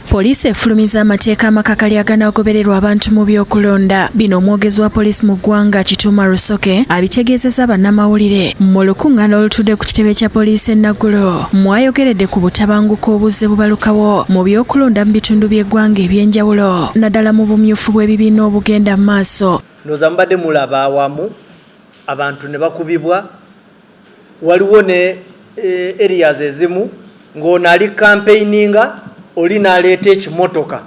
Poliisi efulumiza amateeka amakakali aganaagobererwa abantu mu by'okulonda. Bino omwogezi wa poliisi mu ggwanga Kituuma Rusoke abitegeezezza bannamawulire mu lukuŋŋaana olutudde ku kitebe kya poliisi e Naggulo mwayogeredde ku butabanguko obuzze bubalukawo mu by'okulonda mu bitundu by'eggwanga eby'enjawulo naddala mu bumyufu bw'ebibiina obugenda mu maaso. Ndowooza mubadde mulaba awamu abantu ne bakubibwa Waliwo ne areas ezimu ng'ono ali campaigninga oli naleeta ekimotoka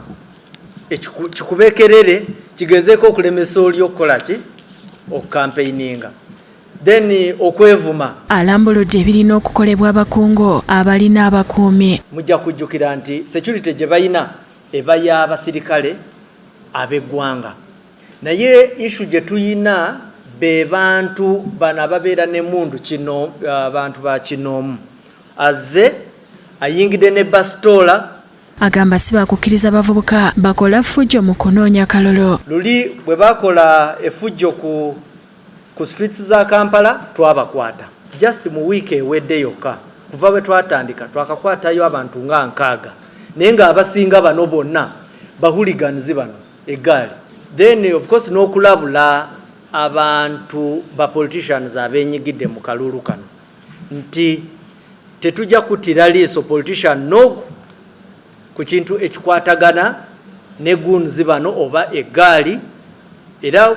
kikube kerere kigezeeko okulemesa oli okukola ki? Okukampeininga. Then okwevuma. Alambuludde ebirina okukolebwa abakungu abalina abakuumi. Mujja kujjukira nti security gye balina eba ya basirikale ab'eggwanga. Naye issue gyetuyina bebantu bano ababeera nemundu kino abantu bakinoomu azze ayingidde ne basitoola. Agamba sibakukiriza bavubuka bakola fujjo mu kunoonya kalulu. Luli bwebakola efujjo ku ku streets za Kampala twabakwata just mu week ewedde yokka kuva bwetwatandika twakakwatayo abantu nga nkaaga naye nga abasinga bano bonna ba hooligans bano. egaali then of course n'okulabula abantu ba politicians abenyigidde mu kaluulu kano nti tetujja kuttira liiso politician nogu ku kintu ekikwatagana ne guns bano oba egaali era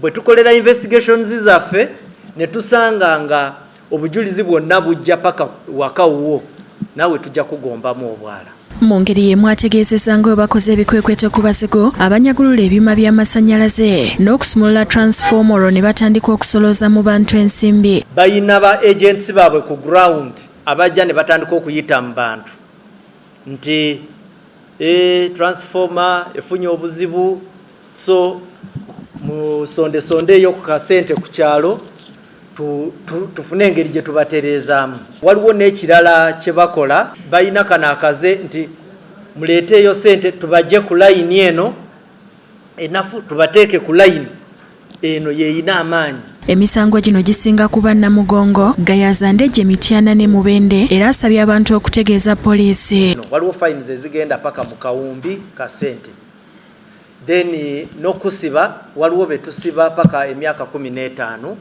bwe tukolera investigations zaffe ne tusanga nga Obujulizi bwonna bujja paka waka wuwo naawe tujja kugombamu obwala. Mungeri y'emu ategeezezza nga bwe bakoze ebikwekweto ku bazigu abanyagulula ebyuma by'amasannyalaze n'okusumulula transformer olwo ne batandika okusolooza mu bantu ensimbi. Balina ba agents baabwe ku ground abajja ne batandika okuyita mu bantu nti, ee, transformer efunye obuzibu, so musondesondeeyo ku kasente ku kyalo tufune engeri gye tubatereezaamu waliwo n'ekirala kye bakola balina kano akaze nti muleeteeyo sente tubajje ku layini eno enafu tubateeke ku layini eno yeeyina amaanyi Emisango gino gisinga kuba Namugongo, Gayaza, Ndejje, Mityana ne Mubende era asabye abantu okutegeeza poliisi. Waliwo fayini ze zigenda paka mu kawumbi ka ssente. then nokusiba waliwo betusiba paka emyaka kumi netano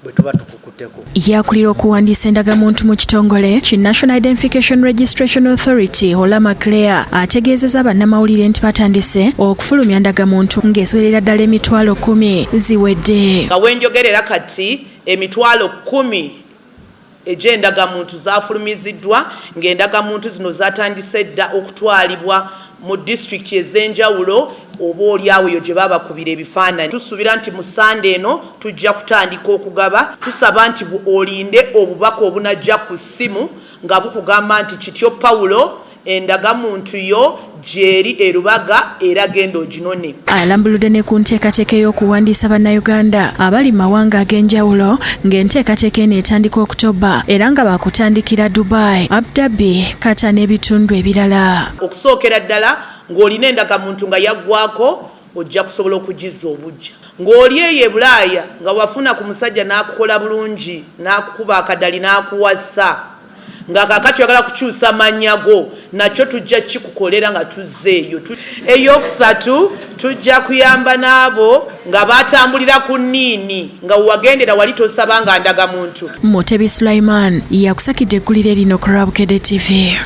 bwetuba tukukuteko. Ye akulira okuwandiisa endagamuntu mu kitongole ki National Identification Registration Authority Olama Claire ategeezeza bannamawulire nti batandise okufulumya ndagamuntu ng'esoberera ddala emitwalo kumi ziwedde. Nga wenjogerera kati emitwalo kumi egy'endagamuntu zaafulumiziddwa ng'endagamuntu zino zaatandise dda okutwalibwa mu disitulikiti ez'enjawulo oba olyawo eyo gye babakubira ebifaananyi. Tusuubira nti mu Ssande eno tujja kutandika okugaba. Tusaba nti olinde obubaka obunajja ku ssimu nga bukugamba nti Kityo Paulo, Endaga muntu yo gyeri e Lubaga era genda oginone. Alambuludde ne ku nteekateeka ey'okuwandiisa Bannayuganda abali mu mawanga ag'enjawulo ng'enteekateeka eno etandika October era nga baakutandikira Dubai, Abu Dhabi, Qatar n'ebitundu ebirala. Okusookera ddala ng'olina endagamuntu nga yaggwaako ojja kusobola okugizza obuggya. Ng'oli eyo e Bulaaya nga wafuna ku musajja n'akukola bulungi n'akukuba akadali n'akuwasa. Nga kaakati oyagala kukyusa mannya go, nakyo tujja kukikukolera nga tuzze eyo. Ey'okusatu, tujja kuyamba n'abo nga baatambulira ku nniini nga we wagendera wali tosabanga ndagamuntu. Mutebi Sulaiman yakusakidde eggulire lino ku lwa Bukedde TV.